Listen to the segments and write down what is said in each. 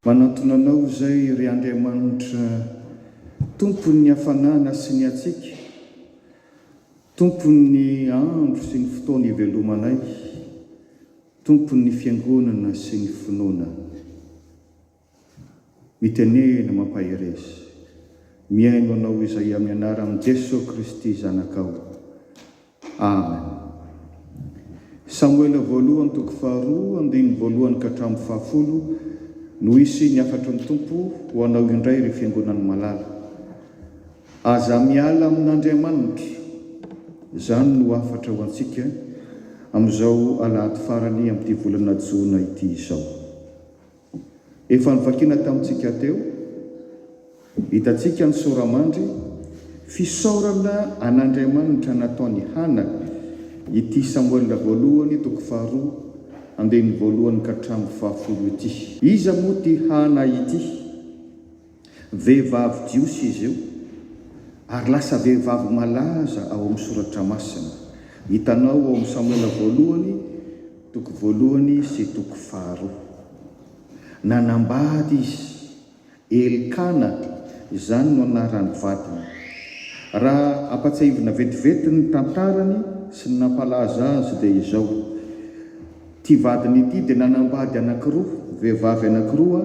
Manantona Anao izay, ry Andriamanitra, Tompon'ny hafanana sy ny hatsiaka, Tompon'ny andro sy ny fotoana ivelomanay, Tompon'ny fiangonana sy ny finoana. Mitenena mampahereza. Mihaino anao izay amin'ny anaran'i Jesoa Kristy Zanakao. Amen. Samoela voalohany toko faharoa andininy voalohany ka hatramin'ny fahafolo no hisy ny hafatry ny Tompo ho anao indray ry fiangonan'ny malala. Aza miala amin'Andriamanitra. Izany no hafatra ho antsika amin'izao alahady farany amin'ity volana jona ity izao. Efa novakina tamintsika teo, hitantsika ny sora-mandry, Fisaorana an'Andriamanitra nataon' i Hana ity Samoela voalohany toko faharoa andininy voalohany ka hatramin'ny fahafolo ity. Iza moa ity Hana ity? Vehivavy jiosy izy io, ary lasa vehivavy malaza ao amin'ny Soratra Masina. Hitanao ao amin'ny Samoela Voalohany toko voalohany sy toko faharoa. Nanambady izy. Elkana, izany no anaran'ny vadiny. Raha ampatsiahivina vetivety ny tantarany sy ny nampalaza azy dia izao. Ity vadiny ity dia nanambady anankiroa, vehivavy anankiroa,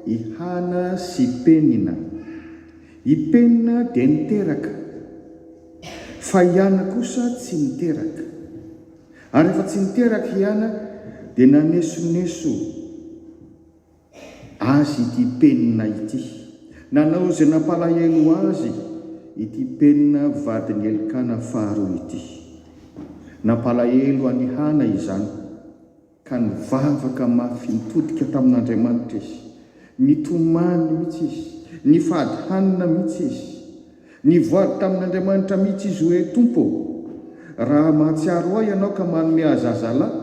i Hana sy Penina. I Penina dia niteraka, fa i Hana kosa tsy niteraka. Ary rehefa tsy niteraka i Hana, dia nanesoneso. Azy ity penina ity. Nanao izay nampalahelo azy ity penina vadin'i Elkana faharoa ity. Nampalahelo an'i Hana izany, ka nivavaka mafy nitodika tamin'Andriamanitra izy. Nitomany mihitsy izy, nifady hanina mihitsy izy. Nivoady tamin'Andriamanitra mihitsy izy hoe, Tompo ô, raha mahatsiaro ahy ianao ka manome ahy zazalahy,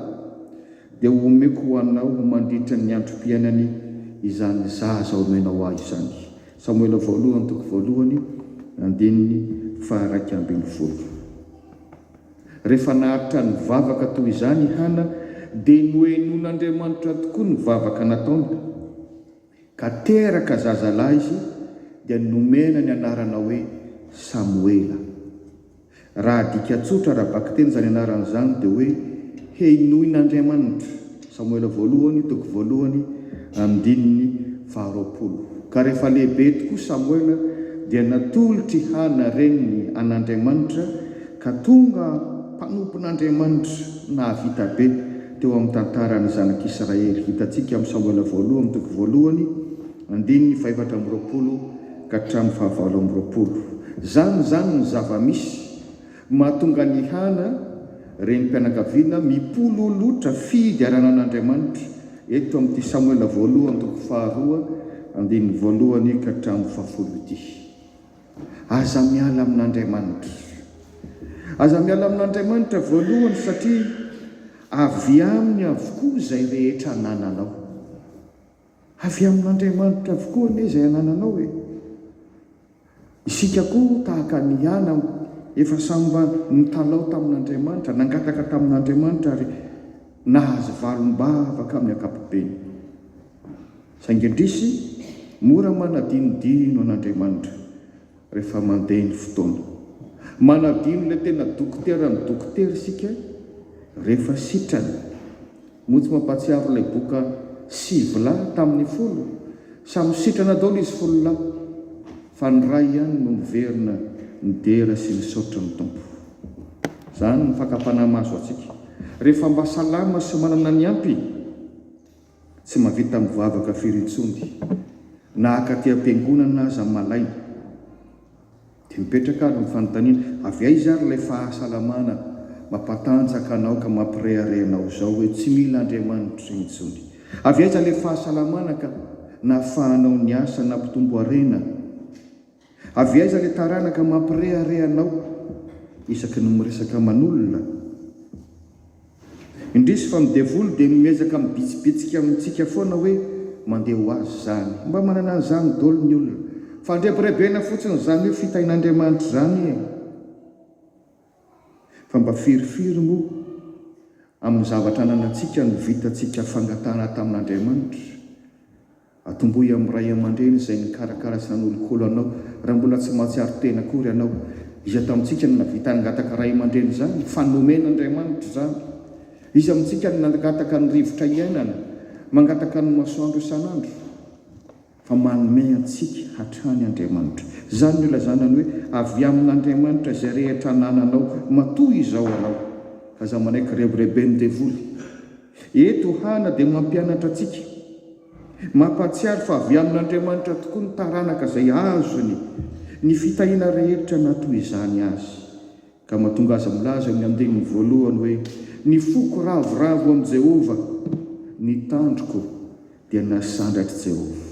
dia ho omeko ho anao ho mandritry ny androm-piainany izany zaza omenao ahy izany. Samoela voalohany toko voalohany andininy faharaika ambin'ny folo. Rehefa naharitra nivavaka toy izany i Hana, dia nohenoin'Andriamanitra tokoa ny vavaka nataony. Ka teraka zazalahy izy dia nomena ny anarana hoe Samoela. Raha adika tsotra ara-bakiteny izany anarana izany dia hoe Henoin'Andriamanitra, Samoela voalohany, toko voalohany, andininy faharoapolo. Ka rehefa lehibe tokoa Samoela dia natolotr'i Hana reniny an'Andriamanitra ka tonga mpanompon'Andriamanitra nahavita be. teo amin'ny tantaran'ny zanak'Israely. Hitantsika amin'ny Samoela Voalohany toko voalohany, andininy fahefatra amby roapolo ka hatramin'ny fahavalo amby roapolo. Izany izany ny zava-misy mahatonga an'i Hana, renim-pianakaviana, mipololotra fiigarana an'Andriamanitra, eto amin'ity Samoela Voalohany toko faharoa, andininy voalohany ka hatramin'ny fahafolo ity. Aza miala amin'Andriamanitra. Aza miala amin'Andriamanitra voalohany satria avy Aminy avokoa izay rehetra anananao. Avy amin'Andriamanitra avokoa anie izay anananao e! Isika koa tahaka an'i Ana efa samy mba nitalaho tamin'Andriamanitra, nangataka tamin'Andriamanitra ary nahazo valim-bavaka amin'ny ankapobeny. Saingy indrisy, mora manadinodino an'Andriamanitra rehefa mandeha ny fotoana. Manadino ilay tena dokoteran'ny dokotera isika rehefa sitrany. Moa tsy mampahatsiaro ilay boka Sivy lahy tamin'ny folo? Samy sitrana daholo izy folo lahy, fa ny iray ihany no niverina nidera sy nisaotra ny Tompo. Izany ny fakam-panahy mahazo antsika, rehefa mba salama sy manana ny ampy. Tsy mahavita mivavaka firy intsony na akaty am-piangonana aza malaina. Dia mipetraka ary ny fanontaniana, avy aiza ary ilay fahasalamana mampatanjaka anao ka mampirehareha anao izao hoe tsy mila Andriamanitra intsony? Avy aiza ilay fahasalamana ka nahafahanao niasa nampitombo harena? Avy aiza ilay taranaka mampirehareha anao isaky ny miresaka aman'olona? Indrisy fa ny devoly dia miezaka mibitsibitsika amintsika foana hoe mandeha ho azy izany. Mba manana an'izany dolo ny olona. Fandrebirebena fotsiny izany hoe fitahin'Andriamanitra izany e! Fa mba firy firy moa amin'ny zavatra ananantsika no vitantsika fangatahana tamin'Andriamanitra? Atombohy amin'ny ray aman-dreny izay nikarakara sy nanolokolo anao raha mbola tsy mahatsiaro tena akory ianao. Iza tamintsika no nahavita nangataka ray aman-dreny izany fa nomen'Andriamanitra izany? Iza amintsika no nangataka ny rivotra iainana, mangataka ny masoandro isan'andro? Fa manome antsika hatrany Andriamanitra. Izany no ilazana ny hoe avy amin'Andriamanitra izay rehetra anananao matoa izao ianao. Aza manaiky rebireben'ny devoly. Eto Hana dia mampianatra antsika, mampahatsiaro fa avy amin'Andriamanitra tokoa ny taranaka izay azony ny fitahiana rehetra na toy izany aza, ka mahatonga azy milaza eo amin'ny andininy voalohany hoe, Ny foko ravoravo amin'i Jehovah, ny tandroko dia nasandratr'i Jehovah.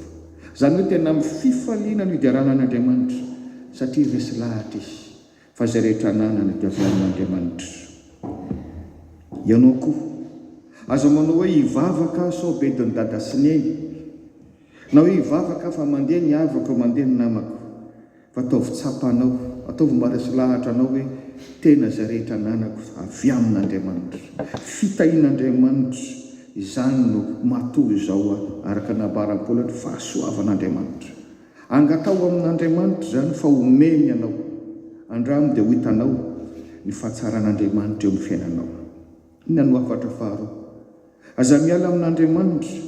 Izany hoe tena amin'ny fifaliana no hiderana an'Andriamanitra, satria resy lahatra izy, Fa izay rehetra ananana dia avy amin'Andriamanitra. Ianao koa, aza manao hoe hivavaka aho sao bedin'i dada sy neny, na hoe hivavaka aho fa mandeha ny havako, mandeha ny namako. Fa ataovy tsapa anao, ataovy maresy lahatra anao hoe, tena izay rehetra ananako avy amin'Andriamanitra. Fitahian'Andriamanitra izany no maha toa izao aho, araka ny nambaran'i Paoly eto, fahasoavan'Andriamanitra. Angataho amin'Andriamanitra izany fa homeny anao. Andramo dia ho hitanao ny fahatsaran'Andriamanitra eo amin'ny fiainanao. Inona no hafatra faharoa? Aza miala amin'Andriamanitra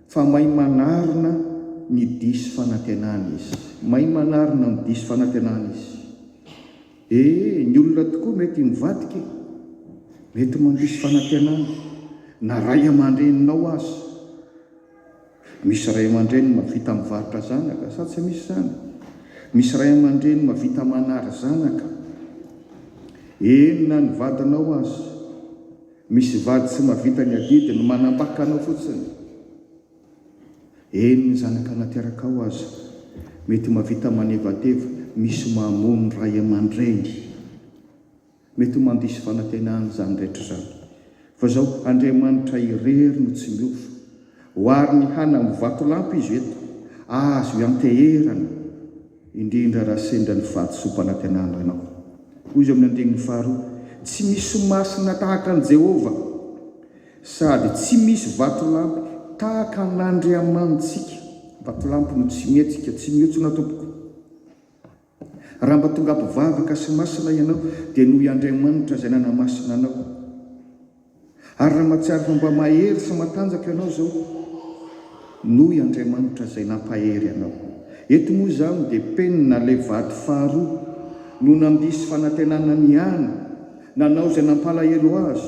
fa mahay manarina ny diso fanantenana Izy. Mahay manarina ny diso fanantenana Izy. E, ny olona tokoa mety mivadika e! Mety mandiso fanantenana, na ray aman-dreninao aza. Misy ray aman-dreny mahavita mivarotra zanaka sa tsy misy izany? Misy ray aman-dreny mahavita manary zanaka, eny na ny vadinao aza. Misy vady tsy mahavita ny adidy no manambaka anao fotsiny, eny ny zanaka naterakao aza. Mety mahavita manevateva, misy mamono ray aman-dreny. Mety ho mandiso fanantenana izany rehetra izany, fa izao, Andriamanitra irery no tsy miova. Ohariny hana amin'ny vatolampy izy eto, azo ianteherana, indrindra raha sendra ny fahadisoam-panantenana ianao. Hoy izy ao amin'ny andininy faharoa, Tsy misy masina tahaka an'i Jehovah, sady tsy misy vatolampy tahaka an'Andriamanitsika. Vatolampy no tsy mihetsika, tsy mihontsona tompoko. Raha mba tonga mpivavaka sy masina ianao, dia noho i Andriamanitra izay nanamasina anao. Ary raha mahatsiaro fa mba mahery sy matanjaka ianao izao, noho i Andriamanitra izay nampahery anao. Eto moa izany dia penina ilay vady faharoa no nandiso fanantenana ny Ana, nanao izay nampalahelo azy.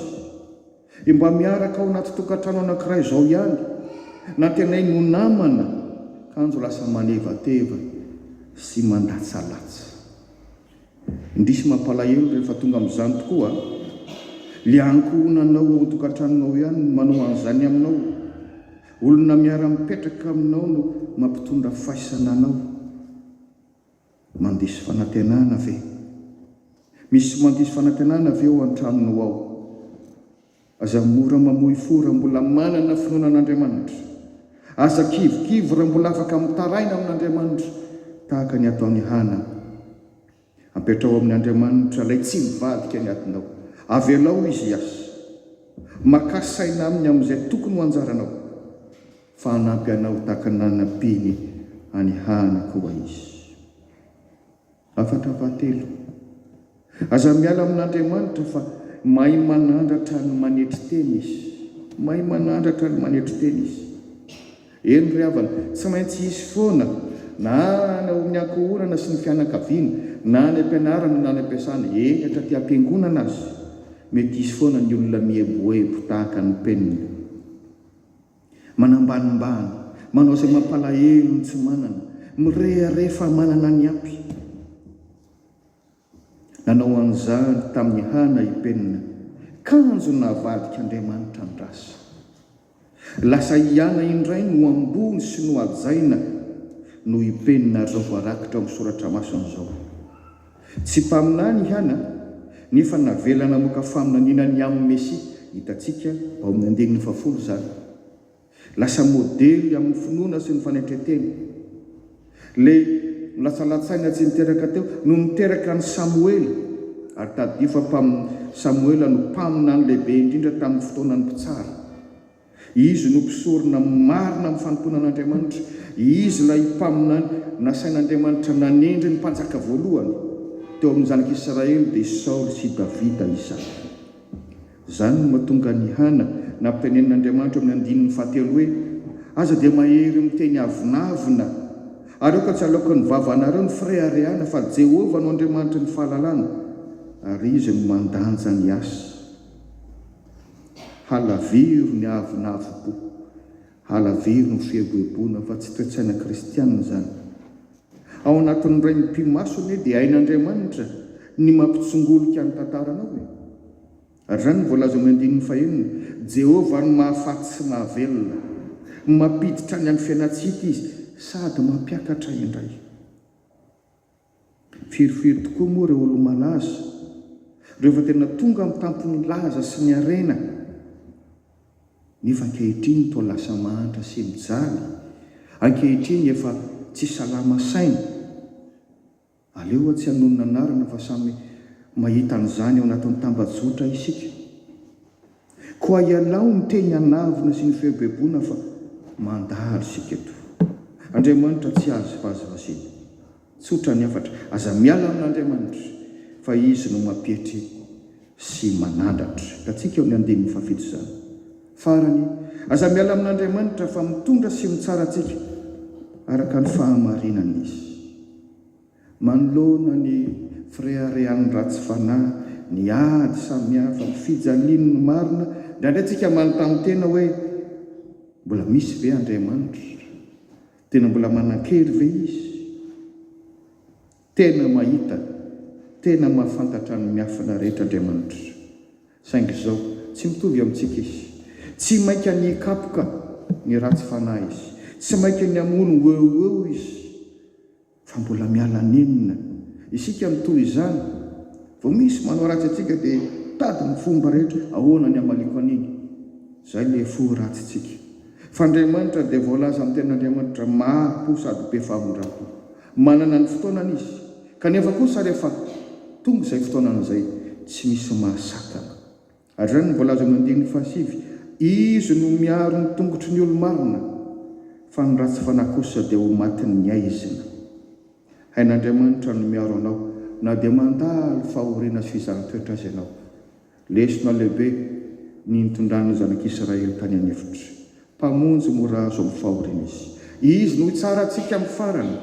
Dia mba miaraka ao anaty tokantrano anankiray izao ihany, nantenainy ho namana, kanjo lasa manevateva sy mandatsalatsa. Indrisy mampalahelo rehefa tonga amin'izany tokoa an! Ilay ankohonanao ao an-tokantranonao ihany no manao an'izany aminao. Olona miara-mipetraka aminao no mampitondra faisana anao. Mandiso fanantenana ve? Misy mandiso fanantenana ve ao an-tranonao ao? Aza mora mamoy fo raha mbola manana finoana an'Andriamanitra. Aza kivikivy raha mbola afaka mitaraina amin'Andriamanitra tahaka ny ataon'i Hana. Ampetraho amin'Andriamanitra ilay tsy mivadika ny adinao. Avelao Izy hiasa. Makà saina aminy amin'izay tokony ho anjaranao. Fa hanampy anao ho tahaka ny nanampiany an'i Hana koa Izy. Hafatra fahatelo, Aza miala amin'Andriamanitra fa mahay manandratra ny manetry tena Izy. Mahay manandratra ny manetry tena Izy. Eny ry havana, tsy maintsy hisy foana, na any ao amin'ny ankohonana sy ny fianakaviana, na any am-pianarana na any am-piasana, eny hatraty am-piangonana aza, mety hisy foana ny olona mieboebo tahaka ny penina. Manambanimbany, manao izay mampalahelo ny tsy manana, mirehareha fa manana ny ampy. Nanao an'izany tamin'i Hana i Penina, kanjo navadik'Andriamanitra an-drasa. Lasa i Hana indray no ambony sy nohajaina noho i Penina ary izao voarakitra ao amin'ny soratra masina izao, Tsy mpaminany i Hana, nefa navela namoaka faminaniana ny amin'ny Mesia, hitantsika ao amin'ny andininy fahafolo izany. Lasa modely amin'ny finoana sy ny fanetren-tena. Ilay nilatsalatsaina tsy niteraka teo no niteraka an'i Samoela, ary tadidio fa mpam. Samoela no mpaminany lehibe indrindra tamin'ny fotoanan'ny Mpitsara. Izy no mpisorona marina amin'ny fanompoana an'Andriamanitra. Izy ilay mpaminany nasain'Andriamanitra nanendry ny mpanjaka voalohany teo amin'ny zanak'Israely, dia Saoly sy Davida izany. Izany no mahatonga an'i Hana nampitenenin'Andriamanitra eo amin'ny andininy fahatelo hoe, Aza dia mahery miteny avonavona, ary aoka tsy halaokin'ny vavanareo ny fireharehana, fa Jehovah no Andriamanitry ny fahalalana, ary izy no mandanja ny asa. Halaviro ny avonavom-po, halaviro ny fieboeboana fa tsy toe-tsaina kristiana izany. Ao anatin'ny Rain'ny Mpimaso anie dia hain'Andriamanitra ny mampitsongolika ny tantaranao e! Ary izany no voalaza ao amin'ny andininy fahenina, Jehovah no mahafaty sy mahavelona. Mampiditra any amin'ny fiainantsika izy sady mampiakatra indray. Firy firy tokoa moa ireo olo-malaza, ireo efa tena tonga amin'ny tampon'ny laza sy ny harena, nefa ankehitriny toa lasa mahantra sy mijaly, ankehitriny efa tsy salama saina. Aleo hoa tsy hanonona anarana fa samy mahita an'izany ao anatin'ny tambajotra isika. Koa ialao ny teny anavona sy ny feo be bona fa mandalo isika eto. Andriamanitra tsy azo vazivazena. Tsotra ny hafatra, aza miala amin'Andriamanitra fa Izy no mampietry sy manandratra. Hitantsika eo amin'ny andininy fahafito izany. Farany, aza miala amin'Andriamanitra fa mitondra sy mitsara antsika araka ny fahamarinany Izy. Manoloana ny fireharehan'ny ratsy fanahy, ny ady samihafa, ny fijaliany ny marina, indraindray tsika manontany tena hoe, Mbola misy ve Andriamanitra? Tena mbola manan-kery ve Izy? Tena mahita, tena mahafantatra ny miafina rehetra Andriamanitra. Saingy izao, tsy mitovy amintsika Izy. Tsy mainka ny hikapoka ny ratsy fanahy Izy. Tsy mainka ny hamono ho eo ho eo Izy. Fa mbola miala nenina isika amin'ny toy izany. Vao misy manao ratsy antsika dia tady ny fomba rehetra ahoana ny hamaliako an'iny. Izay ilay fo ratsintsika. Fa Andriamanitra dia voalaza amin'ny Tenin'Andriamanitra maro po sady be favondram-po. Manana ny fotoanany Izy. Kanefa kosa rehefa tonga izay fotoanany izay, tsy misy maha-Satana. Ary izany no voalazan'ny andininy fahasivy, Izy no miaro ny tongotry ny olo-marina, fa ny ratsy fanahy kosa dia ho matin'ny aizina. Hain'Andriamanitra no miaro anao, na dia mandalo fahoriana sy fizahan-toetra aza ianao. Lesona lehibe ny nitondran'ny zanak'Israely tany an-efitra. Mpamonjy mora azo amin'ny fahoriana Izy. Izy no hitsara antsika amin'ny farany,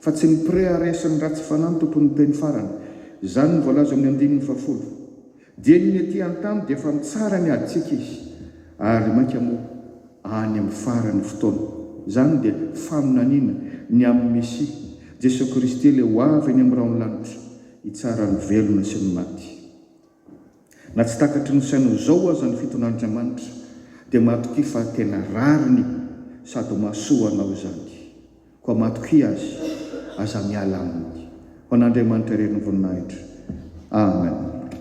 fa tsy ny mpirehareha sy ny ratsy fanahy no tompon'ny teny farany. Izany no voalazan'ny andininy fahafolo. Dieny ny ety antany dia efa mitsara ny adintsika izy ary mainka moa any amin'ny faran'ny fotoana. Izany dia faminaniana ny amin'ny Mesia, Jesoa Kristy ilay ho avy eny amin'ny rahon'ny lanitra hitsara ny velona sy ny maty. Na tsy takatry ny saina ho zao aza ny fiton'Andriamanitra dia matokia fa tena rariny sady mahasoa anao izany. Koa matokia Azy, aza miala Aminy. Ho an'Andriamanitra irery ny voninahitra. Amen.